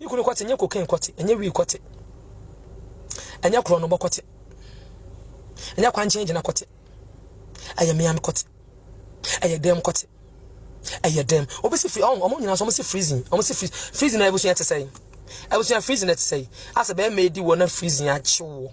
Me kunu kɔte ɛnyɛ cocaine kɔte ɛnyɛ wii kɔte ɛnyɛ korɔnobɔ kɔte ɛnyɛ kwankyɛn gyina kɔte ɛyɛ meame kɔte ɛyɛ dɛm kɔte ɛyɛ dɛm obi si firi ɔn ɔmo nyinaa so ɔmo si freezing ɔmo si freezing freezing na ebusua te sɛ yi ebusua freezing na te sɛ yi asɛ bɛrima edi wɔ na freezing akyew wɔ.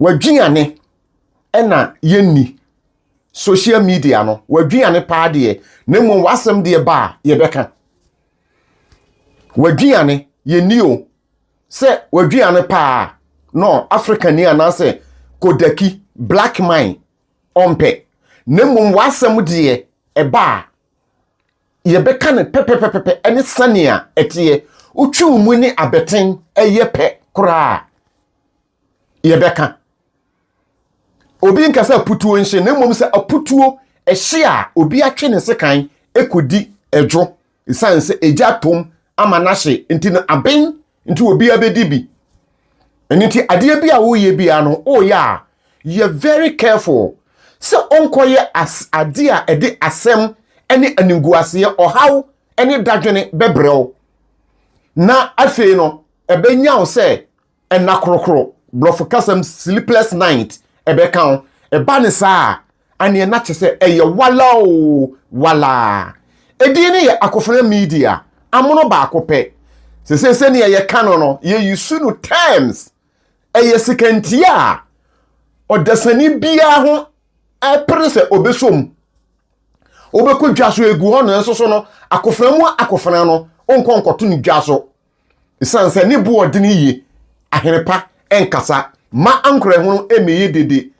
W'aduane na yɛnni, social media no, w'aduane paa deɛ, na mmom w'asɛm deɛ ba a, yɛbɛka. W'aduane, yɛnni o. Sɛ w'aduane paa a, no, Afrikani anaasɛ Kodaki, black man, ɔmpɛ. Na mmom w'asɛm deɛ, ɛba a, yɛbɛka no pɛpɛpɛpɛ ne sɛnea ɛteɛ. Wotwe wo mu ne abɛten yɛ pɛ koraa a, yɛbɛka. Obi nka sɛ aputuo nhye na mmom sɛ aputuo ɛhye a obi atwe ne sekan ɛkɔdi ɛdwo ɛsiane sɛ ɛgya atom ama no ahye nti no aben nti obiara bɛdi bi. Ɛno nti adeɛ bi a woyɛ biara no woyɛ a yɛ very careful sɛ wonkɔyɛ adeɛ a ɛde asɛm ne animguaseɛ ɔhaw ne dadwene bɛbrɛ wo na afei no ɛbɛnya wo sɛ Nna korokoro, Borɔfo kasa mu sleepless night, ɛbɛka wo. Ɛba no saa a, ɛnneɛ na kyerɛ sɛ ɛyɛ wala oo, wala. Edin no yɛ Akofena Media, amono baako pɛ. Seesei sɛnea yɛka no no, yɛ use no terms. Ɛyɛ sekantia a ɔdasani biara ho pere sɛ ɔbɛsɔ mu. Wobɛkɔ dwa so, ɛgu hɔ no, nanso so no, akofena mu akofena no, wonkɔ nkɔto no dwa so. Esiane sɛ ne bo ɔden yiye, ahene pa nkasa mma ankorɛhunu mmɛyɛ dede.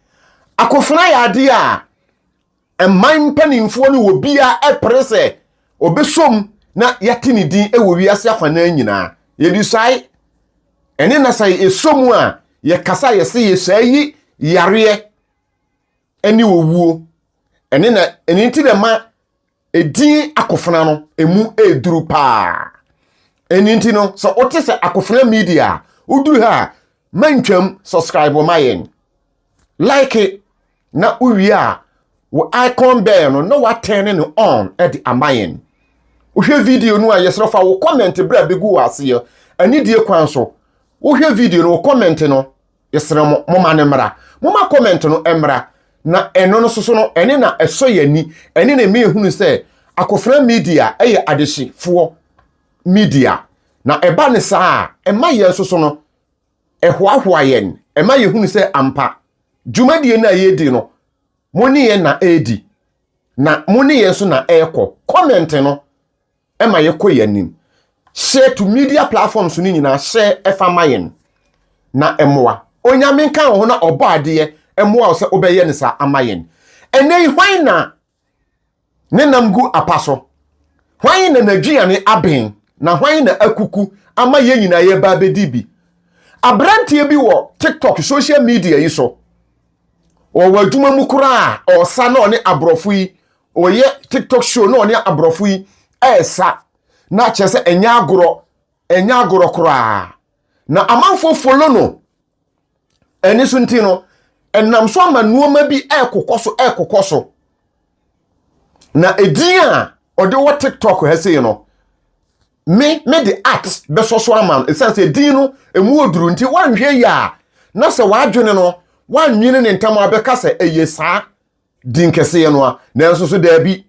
Akofena yɛ ade a mman mpanimfoɔ ne obiara pere sɛ ɔbɛsɔ mu na yɛate ne din wɔ wiase afanan nyinaa. Yɛbisae, ɛne na sɛ yɛsɔ mu a yɛkasa a yɛse yɛsaa yi yareɛ ne owuo. Ɛne na ɛno nti na ɛma Edin akofena no, emu ɛreduru paa. Ɛno nti no, sɛ wote sɛ akofena media a, woduru ha a, mantwam, subscribe ma yɛn. Like na wowie a, wo icon bell no na woatɛne no on de ama yɛn. Wohwɛ video no a, yɛsrɛ fa wo comment berɛ a bɛgu wɔ aseɛ, anidie kwan so. Wohwɛ video no, wo comment no, yɛsrɛ mo moma no mmra moma comment no mmra na ɛno no soso no ɛne na ɛsɔ yɛn ani ɛne na ɛma yɛhunu sɛ akofena media ɛyɛ adehyefoɔ media na ɛba ne saa a ɛma yɛn soso no ɛhoahoa yɛn ɛma yɛhunu sɛ ampa dwumadie no a yɛdi no mo ne yɛn na ɛredi na mo ne yɛn nso na ɛrekɔ comment no Ɛma yɛkɔ yɛn anim. Share to media platforms no nyinaa share ɛfa ma yɛn na ɛmoa. Onyame nka wo ho na ɔbɔ adeɛ ɛmoa wo sɛ wobɛyɛ no saa ama yɛn. Ɛnɛ yi hwan na ne nam gu apa so? Hwan na n'aduane aben na hwan na akuku ama yɛn nyinaa yɛba abɛdi bi? Abranteɛ bi wɔ TikTok social media yi so, ɔwɔ adwuma mu koraa a ɔsa na ɔne aborɔfo yi Ɔyɛ tiktok show na ɔne aborɔfo yi ɛresa na kyerɛ sɛ ɛnyɛ agorɔ, ɛnyɛ agorɔ koraa. Na amanfoɔ follow no. Ɛne so nti no, ɛnam so ama nneɛma bi ɛrekokɔ so, ɛrekokɔ so. Na edin a ɔde wɔ tiktok ha sei no, me me de art bɛsɔ so ama no. Ɛsiane sɛ edin no ɛmu oduru nti, woanhwɛ yie a na sɛ w'adwene no woannwene ne ntam a wobɛka sɛ ɛyɛ saa. Din kɛseɛ no a, nanso so daabi,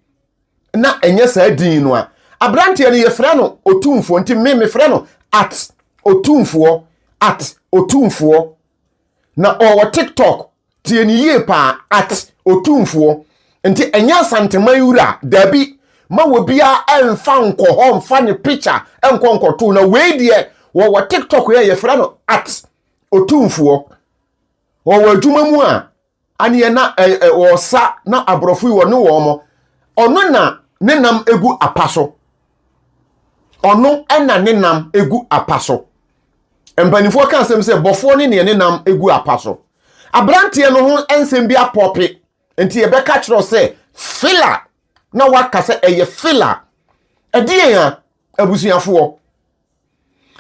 na ɛnyɛ saa din no a. Aberanteɛ no yɛfrɛ no Otumfoɔ, nti me mefrɛ no at Otumfoɔ, at Otumfoɔ. Na ɔwɔ TikTok, tie ne yie paa, at Otumfoɔ. Nti ɛnyɛ Asanteman wura, daabi, ma obiara ɛmfa nkɔ hɔ mfa ne picture nkɔ nkɔto, na wei deɛ wɔwɔ TikTok yɛ yɛfrɛ no at Otumfoɔ. Wɔwɔ adwuma mu a, aneɛ na ɔsa na aborɔfo yi wɔne wɔn mo ɔno na ne nam egu apa so ɔno ɛna ne nam egu apa so mpanimfoɔ ka nsɛm sɛ bɔfoɔ ne neɛ ne nam egu apa so aberanteɛ no ho nsɛm bi apɔpe nti yɛbɛka kyerɛ sɛ fila na waka sɛ ɛyɛ fila ɛdeɛn a abusuafoɔ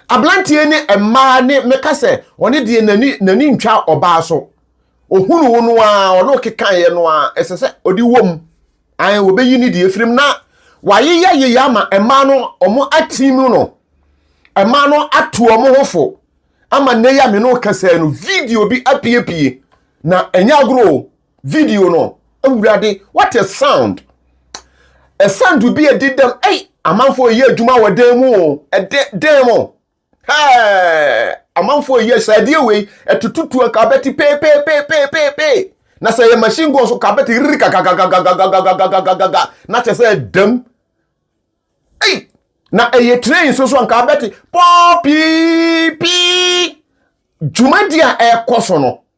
Abranteɛ ne mmaa ne meka sɛ ɔne deɛ n'ani n'ani ntwa ɔbaa so. Ohunu wo no ara ɔne ɔkekaeɛ no ara ɛsɛ sɛ ɔde wɔ mu. Ae wɔbɛyi ne deɛ firim na wayeyɛ yeyɛ ama mmaa no ɔmo atim no. Mmaa no ato ɔmo ho fo ama nnɛ yi a me ne wo kasa yi no video bi apiepie na ɛnyɛ agorɔ o. video no awurade what a sound ɛsan do bi a ɛdi dɛm ɛy amanfoɔ ɛyɛ adwuma wɔ dan mu o ɛdɛ dan mu hɛɛ amanfoɔ ɛyɛ sɛ ɛdeɛ wei ɛtututu a kabɛte peepeepeepeepeepee na sɛ ɛyɛ machine gun so kabɛte riri kakakakakakakakakakakaka na kyɛ sɛ ɛdam ɛy na ɛyɛ train so so a nka abɛte pɔɔ pii pii dwumadi a ɛrekɔ so no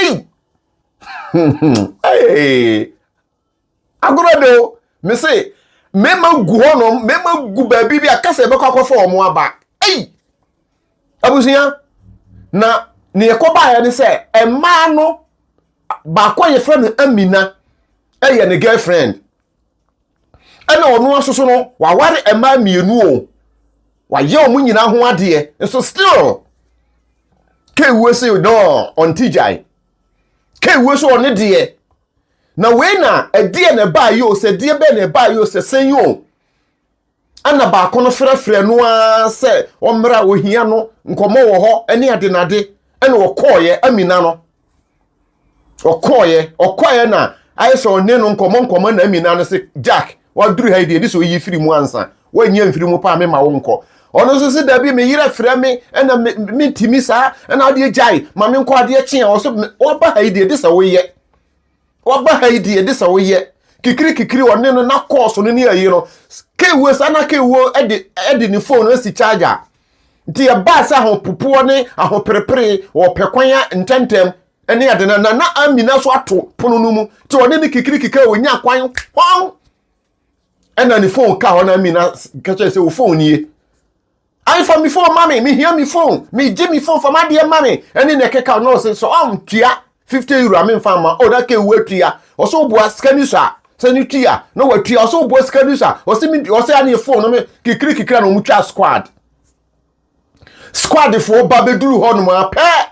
Ei! Ei! Agorɔ de o, me se, mmarima gu hɔnom, mmarima gu baabi bi a kasa ɛbɛkɔ akɔfa wɔn aba. Ei! Abusua, na nea ɛkɔ baeɛ ne sɛ, mmaa no, baako a yɛfrɛ no Amina, ɛyɛ ne girlfriend. ɛna ɔno nso so no waware mmaa mmienu o wayɛ wɔn nyinaa ho adeɛ nso still kewuo se no ɔnte gyae kewuo so ɔne deɛ na wei na ɛdeɛ na ɛbaa yi o sɛ deɛ bɛɛ na ɛbaa yi o sɛ sɛn yi o ɛna baako no frɛfrɛ no ara sɛ ɔmmra a ohia no nkɔmmɔ wɔ hɔ ne ade n'ade ɛna ɔkɔɔyɛ amina no ɔkɔɔyɛ ɔkɔɔyɛ na ayɛ sɛ ɔne no nkɔmmɔ nkɔmmɔ na amina no sɛ jack waduru ha yi deɛ ɛde sɛ ɔyi firi mu ansa wɔnyɛ mfiri mu paa mema wo nkɔ ɔno nso sɛ dabi me yerɛ frɛ me ɛna mentimi saa ɛna adeɛ gyae ma menkɔ adeɛ kye a ɔsɛ wɔba ha yi deɛ ɛde sɛ woyɛ Waba ha yi di ɛde sɛ woyɛ kikiri kikiri ɔne no na kɔɔso no ne ayi no kewuo saa na kewuo ɛde ɛde ne fone asi charge a nti ɛbaa sɛ ahopopoɔ ne ahoperepere wɔ pɛ kwan a ntɛntɛm ɛne ɛde na na amina so ato pono no mu nti ɔne ne kikiri kikiri ɔnya kwan hɔn ɛna ne fone ka hɔ na amina kɛkyɛ sɛ wo fone nie Ayi fa me phone ma me, me hia me phone, me gye me phone fa m'adeɛ ma me, ɛne na ɛkeka no ɔse sɛ ɔntua 50 euro a me nfa ma, oh na keu atua, ɔse woboa sika ni so a, sɛ no tua, na watua, ɔse woboa sika ni so a, ɔse me, ɔse aneɛ phone no me, kikiri kikiri a na ɔmo twa squad, squad foɔ ba bɛduru hɔ nom a pɛ,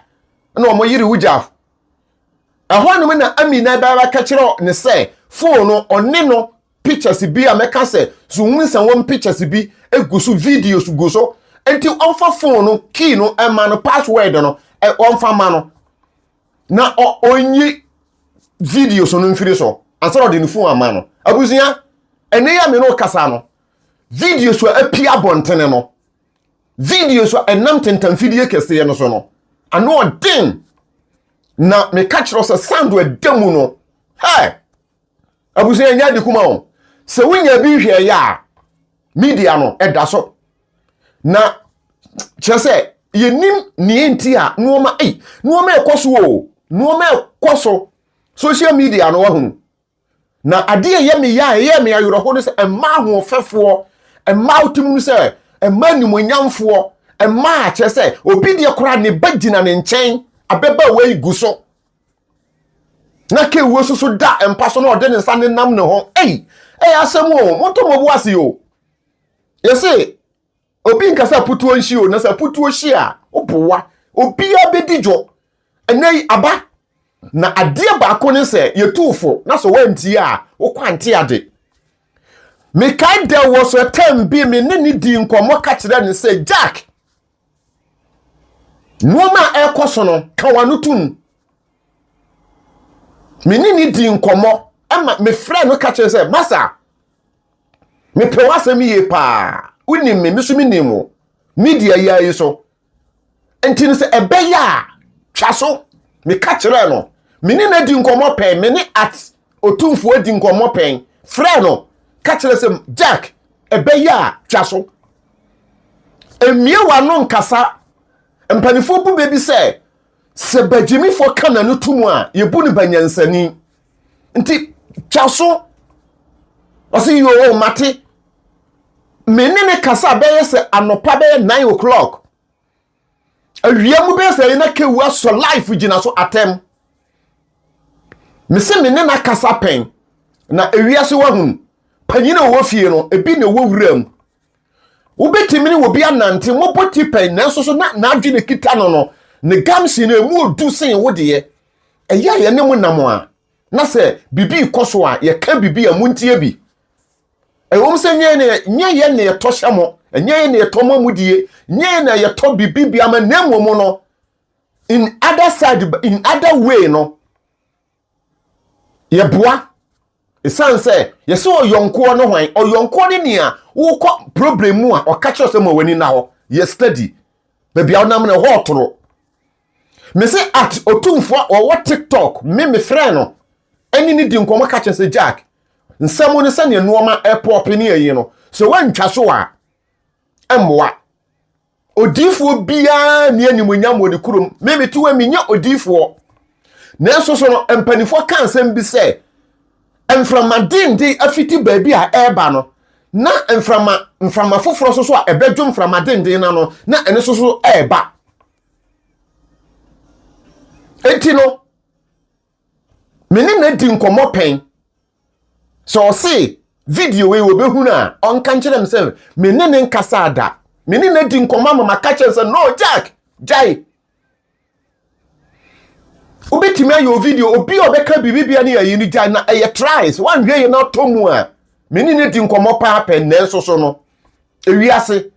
na ɔmo yere wo gya, ɛhɔ nom na Amina bɛbɛka kyerɛ ne sɛ phone no ɔne no pictures bi a mɛka sɛ so wohu sɛ wɔn pictures bi gu so videos gu so nti wɔmfa phone no key no ɛma no password no wɔmfa ma no na ɔnyi videos no mfiri so ansa na ɔde ne phone ama no abusua ɛne yɛ me no kasa no videos a api abɔntene no videos a ɛnam tentamfidie kɛseɛ no so no ano ɔden na meka kyerɛ sɛ sando ɛda mu no hɛ Abusua ɛnyɛ ade kuma o. Sɛ wonya bi nhwɛ yɛ a, media no ɛda so. Na kyerɛ sɛ yɛnim nea nti a nneɛma ei nneɛma ɛkɔ so o. Nneɛma ɛkɔ so. Social media no wahunu. Na adeɛ ɛyɛ me ya a ɛyɛ me awerɛho no sɛ ɛma ahoɔfɛfoɔ, ɛma wote mu no sɛ ɛma animuonyamfoɔ, ɛma kyerɛ sɛ obi deɛ koraa ne ba gyina ne nkyɛn abɛba wei gu so. na kewuo so so da mpa so na ɔde ne nsa nenam ne ho ei ɛyɛ asɛm o monto mo bo ase o yɛse obi nka sɛ aputuo nhyi o na sɛ aputuo hyi a woboa obiara bɛdi dwo ɛnɛ yi aba na adeɛ baako ne sɛ yɛtuu fo na sɛ woantie a wokɔ ante ade mekae dɛ wɔ so ɛtɛm bi me ne ne di nkɔmmɔ ka kyerɛ ne sɛ jack Nneɛma a ɛrekɔ so no, ka w'ano to mu. Me ne no dii nkɔmmɔ ma mefrɛɛ no ka kyerɛ sɛ, Masa, mepɛ w'asɛm yie paa. Wonim me, me nso menim wo. Media yi ara yi so. Nti no sɛ ɛbɛyɛ a, twa so. Meka kyerɛɛ no. Me ne no adi nkɔmmɔ pɛn, me ne at Otumfoɔ di nkɔmmɔ pɛn. Frɛ no, ka kyerɛ sɛ, Jack, ɛbɛyɛ a twa so. Mmie w'ano nkasa. Mpanimfoɔ bu bɛ bi sɛ, sɛ bagyimifoɔ ka n'ano to mu a, yɛbu no banyansani. Nti twa so. Ɔse, yoo, mate. Me ne ne kasa bɛyɛ sɛ anɔpa bɛyɛ nine o'clock. awia mu bɛyɛ sɛ ɛyɛ na kewu asɔ life gyina so atɛm mese me ne na kasa pɛn na ewiase wahunu panyin a ɔwɔ fie no ebi na ɛwɔ wura mu wobɛtumi ne obi anante mobɔ ti pɛn nanso so na n'adwene kita no no ne gamsi no ɛmu ɔdu sen wo deɛ ɛyɛ a yɛne mo nam a na sɛ biribi kɔ so a yɛka biribi a montie bi Ɛwom sɛ nyɛ yɛ nyɛ yɛ na yɛtɔ hyɛ mo, nyɛ yɛ na yɛtɔ mo amudie, nyɛ yɛ na yɛtɔ biribi bia ma na mmom no in other side in other way no yɛboa ɛsiane sɛ yɛsɛ ɔyɔnkoɔ no hwan ɔyɔnkoɔ no nea wokɔ problem mu a ɔka kyerɛ sɛ ma w'ani nna hɔ yɛ study baabi a wonam no ɛhɔ ɔtoro Me se at otumfoɔ a ɔwɔ tiktok me me frɛɛ no ɛne ne di nkɔmɔ ka kyerɛ sɛ Jack nsɛm ne sɛdeɛ nnoɔma ɛpɔɔpe ne ɛyi no sɛ wantwa so a ɛmmoa odiifoɔ biara ne animonyam wɔ ne kurom me me tiwa menyɛ odiifoɔ nanso so no mpanimfoɔ ka nsɛm bi sɛ mframa denden afiti baabi a ɛreba no na mframa mframa foforɔ so so a ɛbɛdwo mframa denden na no na ɛne so so ɛreba enti no me ne no adi nkɔmmɔ pɛn sɛ ɔse video wei wɔbɛhunu a ɔnka nkyerɛ m sɛ me ne ne nkasa ada me ne no adi nkɔmmɔ ama maka kyerɛ sɛ no jack gyae wobɛtumi ayɛ o video obi a ɔbɛka biribibia ne yɛyi no gyae na ɛyɛ tries woanhwɛ yɛ no atɔ mu a me ne no adi nkɔmmɔ paa pɛn nanso so no ewiase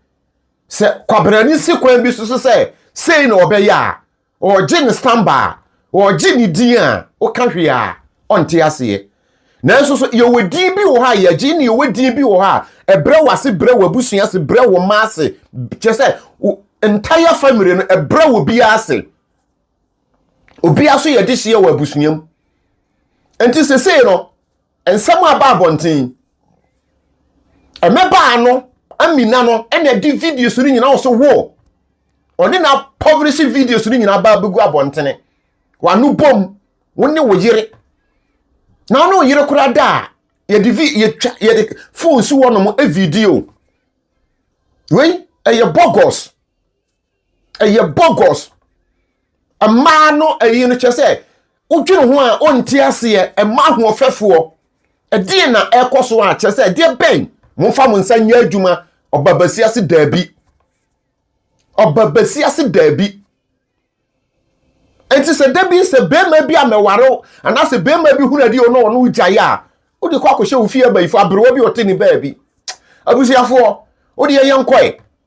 Sɛ kwabrani si kwan bi so so sɛ sei na ɔbɛyɛ a, ɔregye ne samba a, ɔregye ne din a, woka hwee a, ɔnte aseɛ. Nanso so yɛwɔ din bi wɔ hɔ a yɛgye ne yɛwɔ din bi wɔ hɔ a ɛbrɛ w'ase, brɛ w'abusua ase, brɛ wo mma ase, kyerɛ sɛ entire family no ɛbrɛ wɔ biara ase. Obiara so yɛ dehyeɛ wɔ abusua mu. Nti sesei no, Nsɛm a ɛba abɔnten. Mmabaa no amina no na ɛde videos no nyinaa wɔ so wo. Ɔne na pɔverese videos no nyinaa baa bɛgu abɔntene. Wano bom, wo ne wo yere. Na wo ne wo yere koraa da a, yɛde vi yɛtwa yɛde phone si hɔ nom video. Wei ɛyɛ bogus. ɛyɛ bogus mmaa no ɛyi no kyɛ sɛ wodwene ho a ɔnti aseɛ ɛma ahoɔfɛfoɔ ɛdeɛ na ɛkɔ so a kyɛ sɛ ɛdeɛ bɛn momfa mo nsa nyɛ adwuma ɔbabasi ase daabi ɔbabasi ase daabi nti sɛ da bi sɛ bɛrima bi a mɛware anaasɛ bɛrima bi hunu adi ɔno ɔno gyae a wode kɔ akɔhyɛ wo fie abayifo aberewa bi ɔte ne baabi abusuafoɔ wode yɛyɛ nkɔe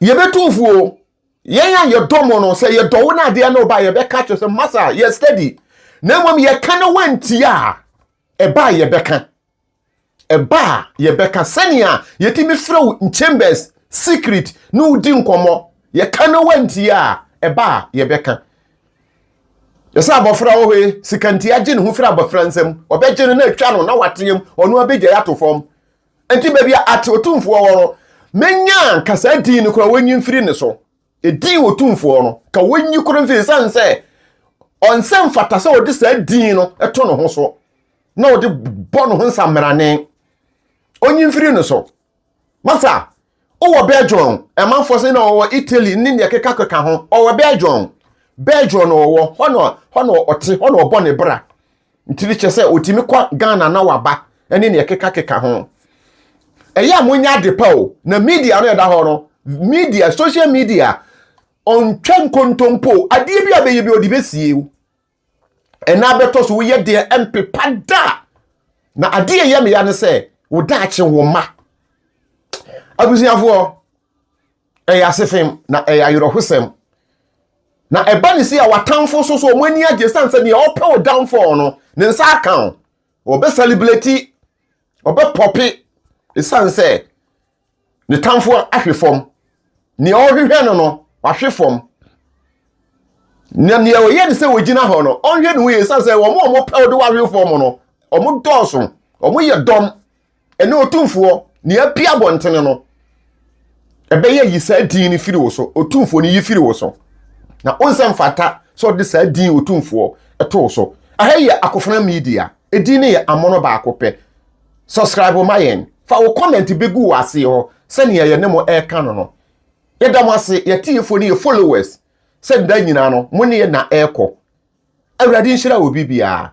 yɛbɛtu mfuo yɛn a yɛdɔ mo no sɛ yɛdɔ wo no adeɛ no ba yɛbɛka kyerɛ sɛ masa yɛ steady na mmom yɛka no wantia a ɛba a yɛbɛka ɛba a yɛbɛka sɛnea yɛtumi frɛ wo chambers secret ne wodi nkɔmmɔ yɛka no wantia a ɛba a yɛbɛka yɛsɛ abɔfra wɔ hɔ yi sikantia gye ne ho firi abɔfra nsam ɔbɛgye no na atwa no na wateam ɔno abɛgya yɛ ato fam Enti baabi a ate Otumfoɔ wɔ no, mɛnya nka saa din no koraa wɔnyi mfiri ne so. Edin Otumfoɔ no, ka wɔnyi koro mfiri ɛsiane sɛ ɔnsɛ mfata sɛ ɔde saa din no to ne ho so na ɔde bɔ ne ho nsammrane. Ɔnyi mfiri ne so. Masa, Wowɔ Belgium, ɛmanfoɔ sɛ na wɔwɔ Italy ne deɛ kekakeka ho. Ɔwɔ Belgium. Belgium na ɔwɔ. Hɔ na hɔ na ɔte, hɔ na ɔbɔ ne bra. Nti ne kyerɛ sɛ ɔtumi kɔ Ghana na waba ne deɛ kekakeka ho. Ɛyɛ a monyɛ ade pa o. Na media no ɛda hɔ no, media, social media, ɔntwa nkontompo o. Adeɛ bi a ɔbɛyɛ bi ɔde bɛsie o. ɛna bɛtɔ so woyɛ deɛ ɛmpepa da na adeɛ ɛyɛ meya ne sɛ wo daakye wo ma abusuafoɔ ɛyɛ asefem na ɛyɛ ayerɛhosɛm na ɛba ne si a watamfo so so wɔn ani agye sane sɛ deɛ ɔpɛ wo downfall no ne nsa aka wo ɔbɛ celebrate ɔbɛ pɔpe ɛsiane sɛ ne tamfo ahwe fam nea ɔrehwehwɛ no no wahwe fam na nea ɔyɛ ne sɛ wɔgyina hɔ no ɔnhwɛ ne ho yie sane sɛ wɔn a wɔpɛw de wahwe fam no wɔn dɔɔso wɔn yɛ dɔm ɛne otumfoɔ nea apia abɔntene no ɛbɛyɛ yi saa din no firi wo so otumfoɔ no yi firi wo so na onsɛ mfata sɛ ɔde saa din otumfoɔ ɛtoo so aha yɛ akofena media ɛdin no yɛ amono baako pɛ Subscribe ma yɛn. Fa wo comment begu wɔ ase hɔ sɛnea yɛne mo ɛreka no no. Yɛda mo ase, yɛn atiefoɔ ne yɛn followers, sɛ da nyinaa no mo ne yɛn na ɛrekɔ. Awurade nhyira obi biara.